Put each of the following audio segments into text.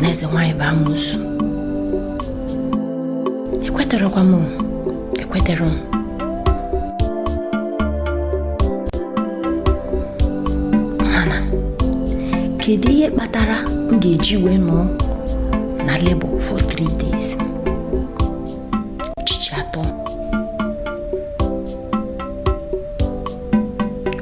na eze nwaanyị bụ amosu ekweterekwa m ekwetere m mana kedu ihe kpatara m ga-eji wee nọ na labor for three days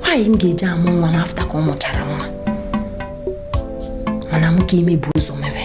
nwaanyị m ga-eji amụ nwa m after ka m mụchara nwa mana m ka ime bụ ụzọ mere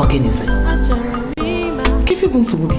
ọ gịnịzi ka ife bụ nsogbu gị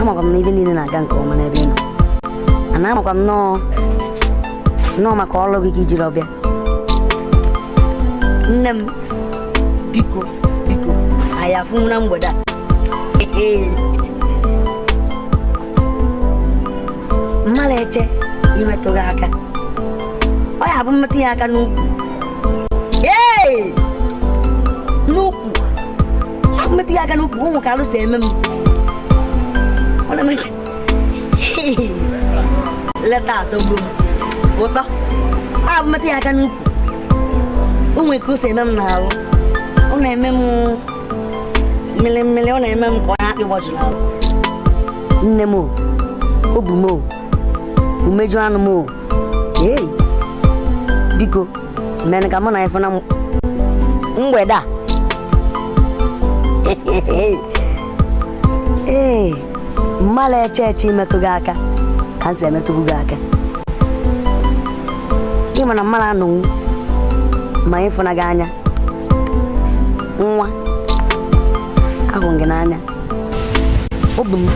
amakwa m na ife niile na-aga nke ọma n'ebe ị nọ ana amakwa m nnọọ nnọọ maka ọrụ gị ka ijiri ọbịa nne m biko biko anyị afụnwu na mgbede a mmadụ eche imetụ gị aka ọ ya bụ m metụ ya aka n'ukwu metụ ya aka n'ukwu ụmụ ka alụ si eme m ọ na-emecha later atọgbu m ụtọ ya bụ m metụ ya aka n'ukwu ụmụ ka o si eme m n'ahụ ọ na-eme m mmiri mmiri ọ na-eme m ka ọ na-akpị gbọjụrụ ahụ nne m obu m umeju anụ m ee biko mee ka mụ na ị fụ na mgbede a ee mmadụ eche eche imetụ gị aka ka m si emetụbu gị aka ị ma na mmadụ anọnwu ma ịfụna gị anya nwa ahụ m gị n'anya obi m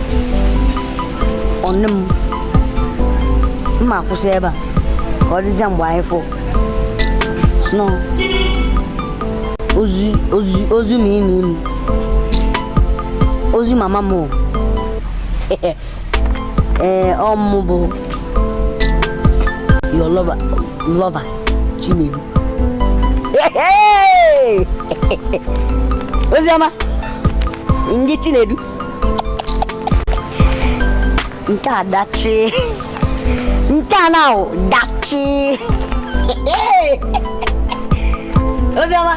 ọṅụ m m ma-akwụsị ebe a ka ọ dịzie mgbe anyị fụ sno ozi ozi ozi ma ime ime ozi mama m ee ọ mụ bụ your lover lover chinedu oziọma Ndị Chinedu. Nke a dachi. Nke a na dachi. Oziọma.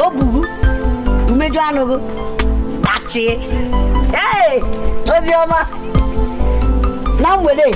O bubu. Umeju anụghị. Dachi. Ee! Oziọma. Na mgbede.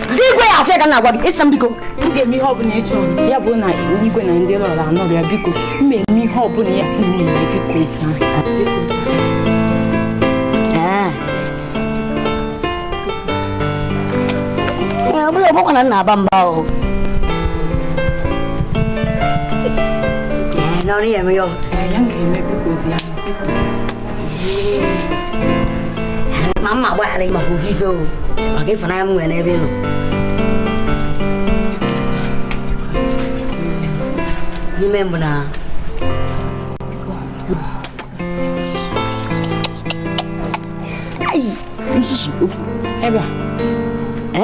Ndị igwe ya afịa ka na-agwa gị ịsa m biko. M ga-eme ihe ọbụla ị chọrọ ya bụ na igwe na ndị lọrọ anọrọ ya biko m ga-eme ihe ọbụla ya sị m na-eme biko ịsa ọ bụla ọgbakwa na nna aba mba ahụ n'ọrụ ya eme ya ọ ya m ga-eme biko zi ya ma mma agbaghara gị maka ofu ife ọ maka ịfụnanya m nwere n'ebe ị nọ n'ime mbụ na Ai, nsusu ofu ebe a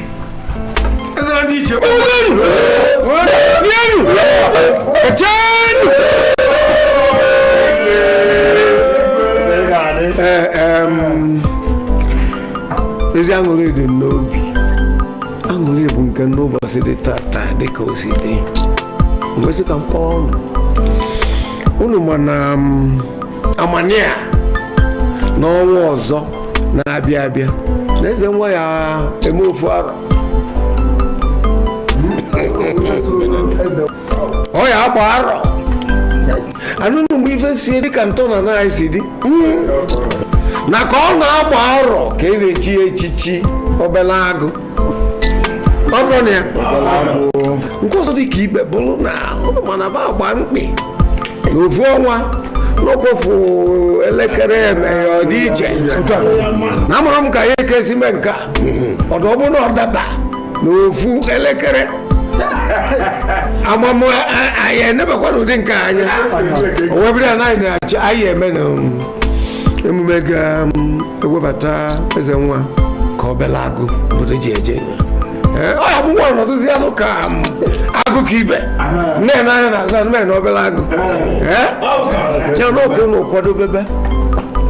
ezi aṅụrị dị m n'obi aṅụrị bụ nke m n'ụbọsị dị tata dị ka o si dị m wee sị ka m kpọọ ụnụ ụnụ ma na amani a n'ọnwa ọzọ na-abịa abịa na eze nwa ya eme ofu arọ ọ ya agba arọ anụnụ mgbe ife si dị ka ntọnana anyị si dị na ka ọ na-agba arọ ka e na-echi ya echichi obele agụ ọ bụrụ na ya nke ọzọ dị ka ibe bụrụ na ụnụ ma na ba agba mkpị na ofu ọnwa nakwa ofu elekere emeghe ọ dị iche na amarọ m ka anyị ga-esi mee nke a ọdụ ọ bụrụ na ọ daba na ofu elekere ama m anyị enebakwa n'ụdị nke a anya owebere anaghị na-achọ anyị eme na emume ga ewebata eze nwa ka obele agụ obodo ji eje enyo Ee, ọ ya bụ nwa ọnọdụzi anụ ka m, agụ ka ibe nne na anya na-azụ anụ mee na obele agụ Ee? ya nọ ka ụnụ kwadobebe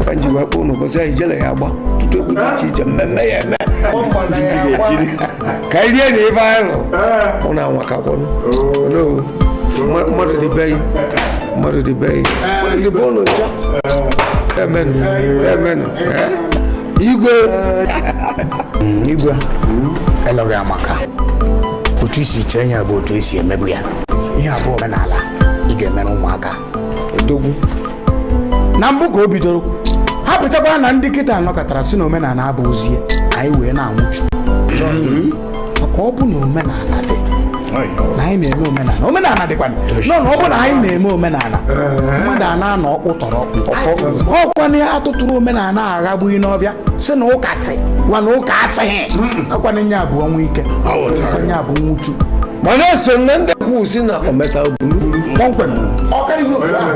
ka m ji wee kpọọ ụnụ ụbọchị anyị jele ya agba ọtụtụ egwu dị iche iche mmemme ya eme ka anyị rie na ife anyị lụ ọ na-anwa ka kwenụ mmadụ dị be yi mmadụ dị be yi ndị bụ ụlọ ncha emenụ emenụ igwe igwe elo gị amaka otu i si chee ya bụ otu e si emebu ya ihe a bụ omenala ị ga-emere ụmụaka odogwu na mbụ ka o bidoro ha bụchakwa na ndị kịta nọkatara sị na omenala abụọzi ya anyị wee na-anwụchu maka ọ bụ na omenala dị na anyị na-eme omenala omenala dịkwa nọ na ọ bụ na anyị na-eme omenala mmadụ a na-anọ ọkpụ tọrọ ọkpụ ọkwana ya atụtụrụ omenala aghagbughị n'ọbịa sị na ụka sị gwa na ụka asịghị akwana nye abụ ọnwụ ike Aghọtara. akwana nye abụ nwụchu mana eso na ndị kwuru sị na ometa buru kpọmkwem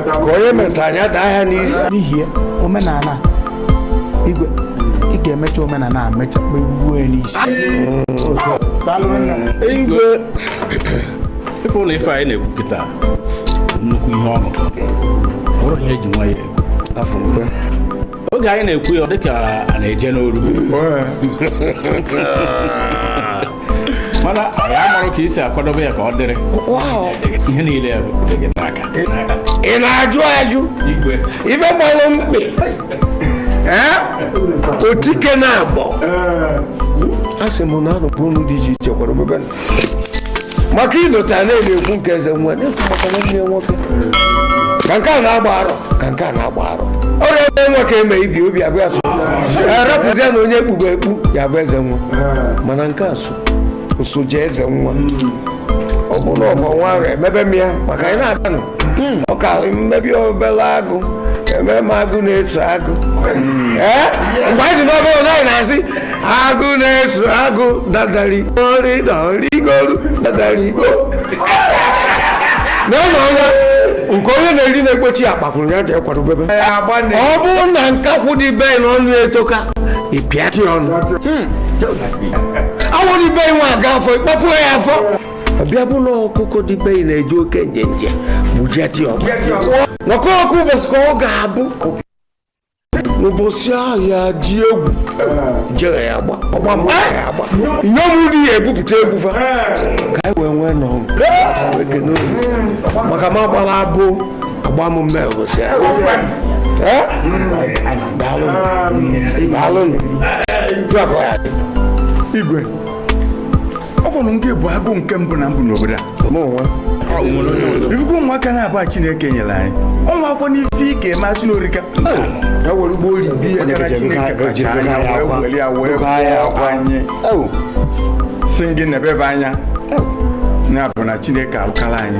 ka onye meta anya daa ya n'isi n'ihi ya omenala igwe ị ga-emecha omenala a mecha megbuo ya n'isi igwe ịfụ na ife anyị na-ekwu kịta nnukwu ihe ọnụ ọ bụrụ ihe eji nwa ya ekwu afọ mkpe oge anyị na-ekwu ya ọ dịka a na-eje n'oru mana anyị amarọ ka e si akwadobe ya ka ọ dịrị ihe niile bụ gị n'aka ị na-ajụ ajụ igwe ife gbalụ mkpị otike na-agbọ a sị m na arụpụ unu dị iche iche kwara obebe maka ilota na-ekwu nke eze nwa na-ekwu maka nwanne ya nwoke ka nke a na-agba arọ ka nke a na-agba arọ ọrịa ebe nwa ka eme ibi obi abụọ ya so rapụzie na onye ekpugbo ekpu ya bụ eze nwa mana nke a so nsoji eze nwa ọ bụrụ na ọma nwa ahụ emebe m ya maka anyị na-aga nụ hmm. ọ ka mmebi obele agụ eme m agụ na-etu agụ hmm. eh? mgbe anyị dị n'obere na anyị na-asị agụ na-etu agụ dadari ori na origoru dadari go na ụlọ ọnwa nke onye na-eri na-egbochi akpakwụrụ ya ji ekwadobebe ọ bụrụ na nkakwụ dibe na ọnụ etoka ị pịatị ọnụ hmm. awụrụ ibe nwa aga afọ ịkpọpụ ya afọ ọbịa bụ na ọkụkọ dibe ị na-eji oke njenje gbujeti ọgụ nọkọ ọkụ ụbọchị ka ọ ga-abụ n'ụbọchị ahụ ya dị egwu jere ya agba ọgba mgba ya agba inyom di ya ebupụta egwu fa ka anyị wee nwee nọ maka ma gbara abụ agba m mme ụbọchị ya Eh? daalụ daalụ dụakọ ya igwe ọ kwanụ gị bụ agụ nke mbụ na mbụ n'obodo a mụ nwa ifugo nwa ka na-abụ a chineke nyere anyị ọnwa akwụkwọ n'ife ị ga-eme achị n'orika ya were ugbo oyi bi ya Maka na Chineke kacha anya wee weli ya wee kụọ anyị ewu sị gị nebe ebe anya ya bụ na chineke alụkala anyị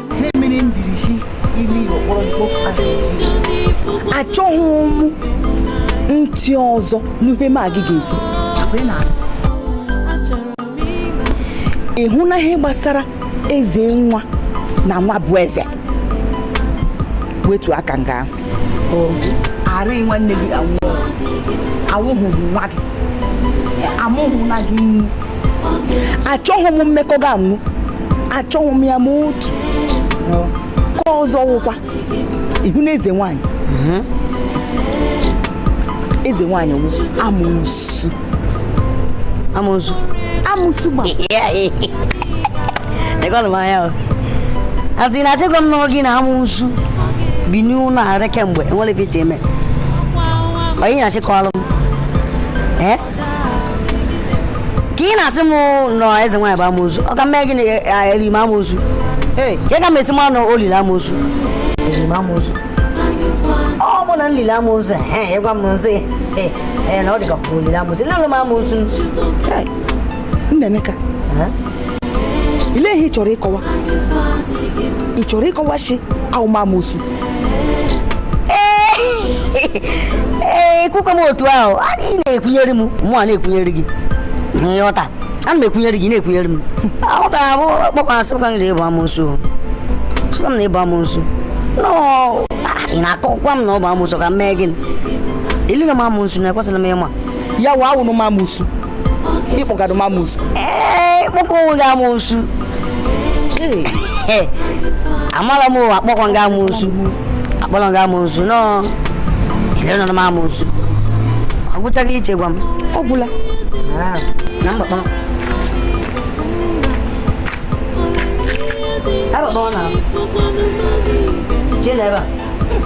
ha mere m jiri si ime ihe okpọrọ mkpofu a ga-eji achọghị m ntị ọzọ n'ihe mụ na gị ga-ekwu ị hụ na ihe gbasara eze nwa na nwa bụ eze wetu aka nga ahụ arịghị nwanne gị anwụọ awụghị m nwa gị amụghị na gị nnu achọghị m mmekọ gị anwụ achọghị m ya ma otu ka ọzọ wụkwa ị hụ na eze nwanyị eze nwanyị wụ amosu amosu amosu amosu gba dịkwanụ m anya adị na achịkwa m nọọ gị na amosu bi n'ụlọ arị kemgbe enwere ife iche eme ọ ị na-achịkọlụ m ee ka ị na-asị m nọ eze nwaanyị bụ amosu ọ ka m mee gịnị eli m amosu ka ị ga m esi ma nọ o lile amosu ọ bụ na nlile amosu he ịgwa m nzi he he na ọ dịka kwuru nlile amosu nlele m amosu Kai, nna emeka ile ihe ị chọrọ ịkọwa ị chọrọ ịkọwa shi awụ m amosu ee kwukwe m otu ahụ a ị na-ekwunyere m mụ a na-ekwunyere gị ihe ọta ana m ekwunyere gị na-ekwunyere m ọ ga-abụ kpọkwara sị ka m na ị bụ amosu sị ka m na ị bụ amosu nọ ị na-akọkwa m na ọ bụ amosu ka m mee gịnị elina m amosu na ekwesịrị m ịma ya wụ awụnụ m amosu ị kpọgadụ m amosu ee kpọkwa onwe gị amosu amala m akpọkọ m gị amosu akpọrọ m gị amosu nọ elenọ m amosu ọ gwụchaghị iche gwa m ọ gwụla ah. na mgbakpọ Ebe ọ na-ahụ. Jee n'ebe a.